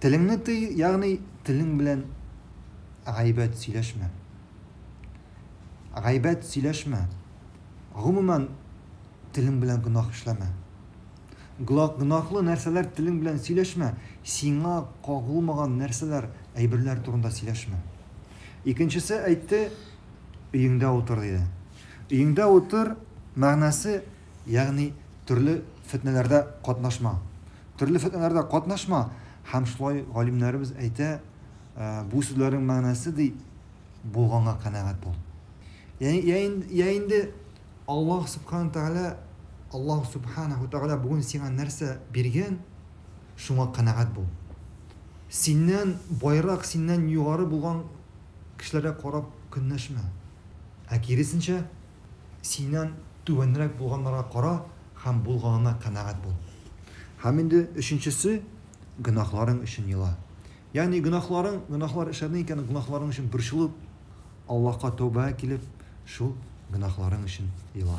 Телеңне тый, ягъни телең белән гайбәт сөйләшмә. Гайбәт сөйләшмә. Гомумән, телең белән гөнаһ эшләмә. Гөнаһлы нәрсәләр телең белән сөйләшмә, сиңа кагылмаган нәрсәләр, әйберләр турында сөйләшмә. Икенчесе әйтте, өеңдә утыр, диде. Өеңдә утыр мәгънәсе Ягъни төрле фетнәләрдә катнашма. Төрле фетнәләрдә катнашма, һәм шулай галимнәребез әйтә, бу сүзләрнең мәгънәсе, ди, булганга канәгать бул. Йә инде Аллаһ Субхана Тәгалә, Аллаһ Субханәһү Тәгалә бүген сиңа нәрсә биргән, шуңа канәгать бул. Синнән байрак, синнән югары булган кешеләргә карап көнләшмә. Ә киресенчә, Синнән түбәнрәк булганнарга кара һәм булганына канәгать бул. Һәм инде өченчесе, гөнаһларың өчен ела. Ягъни гөнаһларың, гөнаһлар эшләдең икән, гөнаһларың өчен борчылып, Аллаһка тәүбәгә килеп, шул гөнаһларың өчен ела.